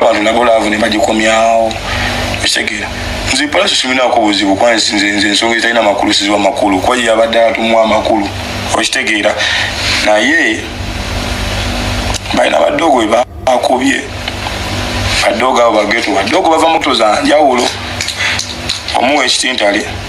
wano nabo laavu ne bagikomyawo ekitegeera nze palasi siminaako buzibu kuba nze ensonga ezitalina makulu siziwa makulu kuba ye yabadde atumuwa amakulu okitegeera naye balina badoogo we bakubye badoogo abo bageto badoogo bava muto za njawulo omuwa ekitintale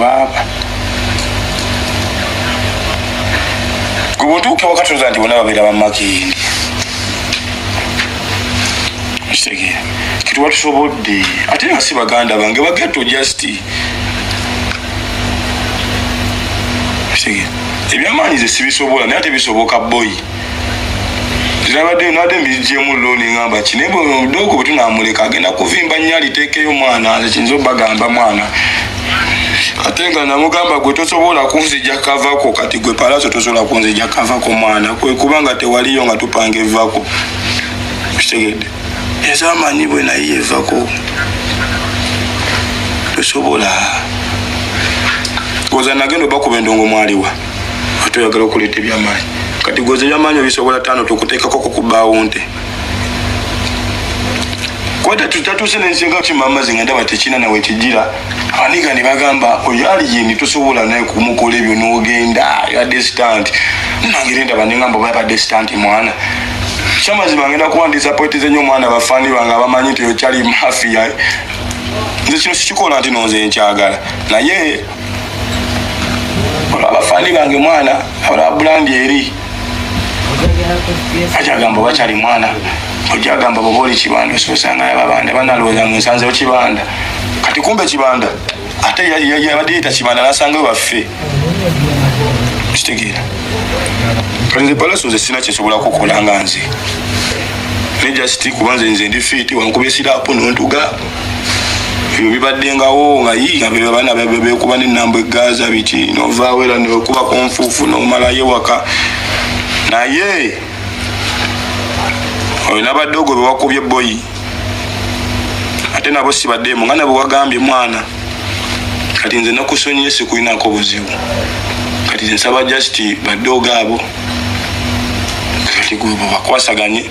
waaba gwe bwotuuka wakatoza nti bona babeera bamakindi kitegeera kituba tusobodde ate nga si baganda bange bageto just kitegeera ebyamaanyi ze sibisobola naye ate bisoboka boyi nabadde nabadde mbigyemu looni ngamba ki naye bwemudoogo bwe tunamuleka agenda kuvimba nnyo aliteekeyo mwana nze kiyinza obagamba mwana ate nga namugamba gwe tosobola kunzija kavako kati gwe palaso tosobola kunzija kavako mwana kwekuba nga tewaliyo nga tupanga evako kitegedde ezamanyi bwe naye yevako tosobola oza nagenda obakuba endongo mwaliwa ate oyagala okuleeta ebyamaanyi kati gwoza ebyamaanyi obisobola taano tukuteekako kukubbaawo nte kwata tutatuuse nensinga kimamazi nga ndaba tekina nawe kijira aniga ne bagamba oyo ali yini tosobola naye kumukola ebyo nogenda ya distant nangeri ndaba nengamba oba yabadde stant mwana kyamazima ngenda kuba ndisapoitize nyo omwana bafani bange abamanyi nti okyali mafiya nze kino sikikola nti nonze nkyagala naye abafani bange mwana olabulandi eri ajagamba bakyali mwana ojagamba boba oli kibanda ososanga yababanda banalowooza mu nsanzewo kibanda kati kumbe kibanda ate yabadde yita kibanda nasanga waffe kitegeera kati nze palaso nze sina kyesobola kukola nga nze nejasiti kuba nze nze ndi fiiti wankuba esiraapu nontuga ebyo bibaddengawo nga abaana bekuba nenamba egaza biki novaawo era newekuba ku nfuufu nomalayo ewaka naye oyo nabadde ogwo bewakubye boyi ate nabo sibaddemu nga nabo wagambye mwana kati nze nakusonyiye sikulinako buzibu kati nsaba just badde ogaabo kati gwe bakwasaganye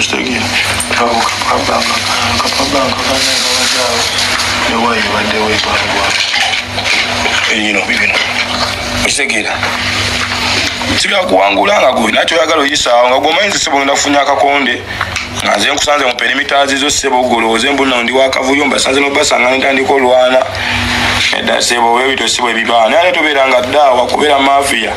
kitegeera abo kapabanka kapabanka kanya kabajaawo newayo baddewo ebalwa eyino bibino okitegeera sigala kuwangula nga gwe nakyo oyagala oyisaawo nga gwomanyi nze sebo ngenda kufunya akakonde nga nze nkusanze mu perimitaazi zo sebo ogolowooze mbuno ndi wakavuyo mbasanze nobasanga nentandika olwana edda sebo webito sebo ebibaana naye tobeera nga ddaawa kubeera mafiya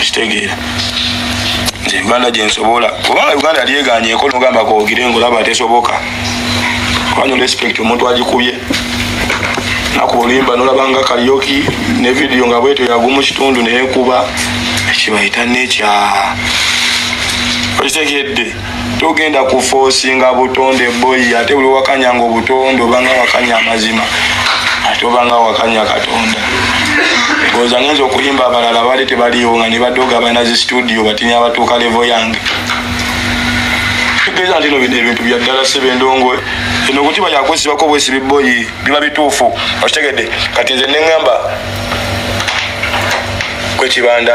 kitegeera nze uganda gyensobola oba uganda yali eganyeko nogamba kogire ngaolaba tesoboka wanyo respect omuntu agikubye nakuba oluyimba nolabanga kalyoki ne vidiyo nga bwetyo yagumu kitundu neyekuba ekibayita nekya okitegedde togenda kufosinga butonde boyi ate buli wakanyanga obutonde obanga wakanya amazima ate obanga wakanya katonda oza ngenza okuyimba abalala bali tebaliwo nga nibadoga balina zi studio batinya abatuuka levo yange tugeza ntino bino ebintu byaddala sebe endongo eno okuti bayakwesibako bwesibi boyi biba bituufu okitegedde kati nze neŋamba kwekibanda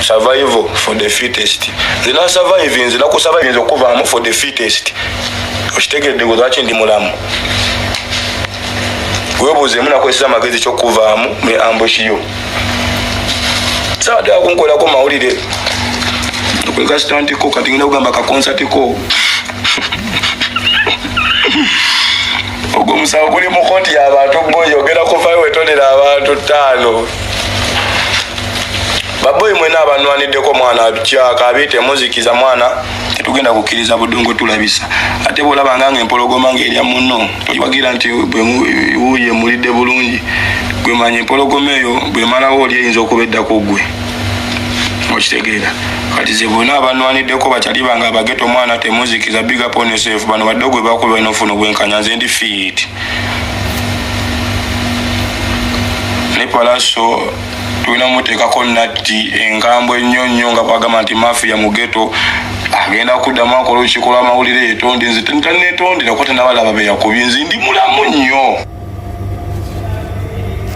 survival for the fittest zina surviving zina ku surviving okuvaamu for the fittest okitegedde gwe lwaki ndi mulamu webuuzeemu nakozesa amagezi kyokuvaamu ne ambushi yo saatera kunkolako mawulire kwekasitantiko kati ngenda kugamba kakonsatiko ogwo musawo guli mu koti yabantu gwoyogera kuvayo wetonera abantu taano baboyi mwena abanwaniddeko mwana kyaka abe temuzikiza mwana tetugenda kukkiriza budongo tulabisa ate bwolaba nga nga empologoma ngaerya muno towagira nti wuye mulidde bulungi gwemanya empologoma eyo bwemalawo oli eyinza okuba eddako gwe okitegeera kati ze bonna abanwaniddeko bakyali bange abageto omwana temuzikiza bigaponsef bano badde gwe bakuba nofuna obwenkanya nze ndi fiit ne palaso tulina muteekako natti engambo ennyo nnyo nga bwagamba nti mafiya mugeto agenda kuddamu akola olukiiko lw'amawulire yetonde nze tanetondera kuba tenabalaba beyakubye nze ndi mulamu nnyo